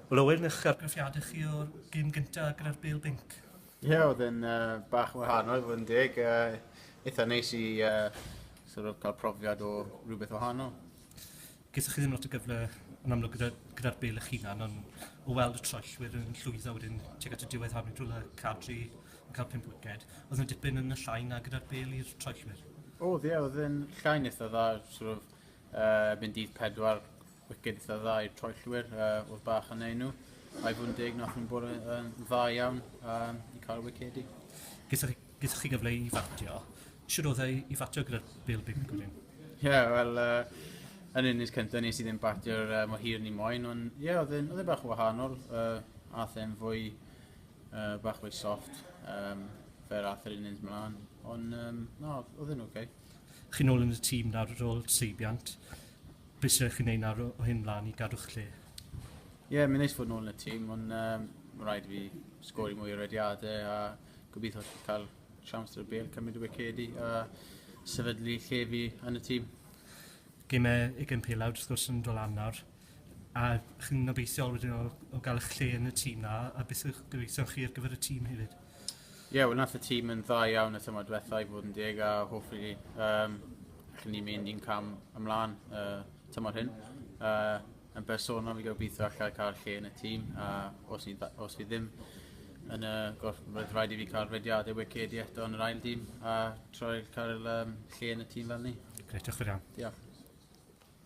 Wel Owen, eich argraffiadau chi o'r gêm gyntaf gyda'r Bale Binc? Ie, yeah, oedd yn uh, bach yn wahanol, fod yn deg. Uh, eitha neis i uh, sort of, cael profiad o rhywbeth wahanol. Gysych chi ddim lot o gyfle yn amlwg gyda'r gyda Bale eich hunan, ond o weld y troellwyr yn llwyddo wedyn tuag at y diwedd harnu drwy y cadri yn cael pimp wiced, oedd yn dipyn yn y llai na gyda'r bel i'r troellwyr? Oedd, ie, oedd yn llai'n eitha dda, sort of, uh, mynd dydd pedwar Wiced eitha dda i'r troellwyr, uh, oedd bach yn ei nhw. Ai fod yn deg, nath nhw'n bod yn dda iawn um, i cael y wicedi. Gysach chi, chi gyfle i fatio. Siwr oedd ei i fatio gyda'r Bill Big Gwydyn? Ie, yeah, wel, uh, yn unig cyntaf nes i ddim batio'r uh, mor hir ni moyn, ond ie, yeah, oedd e'n e bach wahanol, uh, a then fwy, uh, bach fwy soft, um, fer ath yr unig mlaen, ond um, no, oedd e'n oce. Okay. Chi'n ôl yn y tîm nawr ar ôl seibiant. Bysa chi'n neud nawr o hyn mlan i gadw'ch lle? Ie, mae'n neis fod nôl yn y tîm, ond um, mae'n rhaid i fi sgori mwy o rediadau a gobeithio cael siawns dros bêl, cymryd y wicedi a sefydlu lle fi yn y tîm. Gymau ugain pelawd wrth gwrs yn dod lan nawr, a chi'n obeithiol wedyn o, o gael eich lle yn y tîm na, a beth yw'ch gobeithion chi ar gyfer y tîm hefyd? Ie, wel nath y tîm yn dda iawn y tymor diwetha i fod yn deg a hopefully um, allwn ni mynd un cam ymlaen uh, tymor hyn. Uh, yn bersonol fi gobeithio allai cael lle yn y tîm a os, ni, os fi ddim yn y gorff, roedd rhaid i fi cael rhediadau wiced i eto yn yr ail dîm a troi'r cael um, lle yn y tîm fel ni. Greit, diolch yn iawn. Diolch.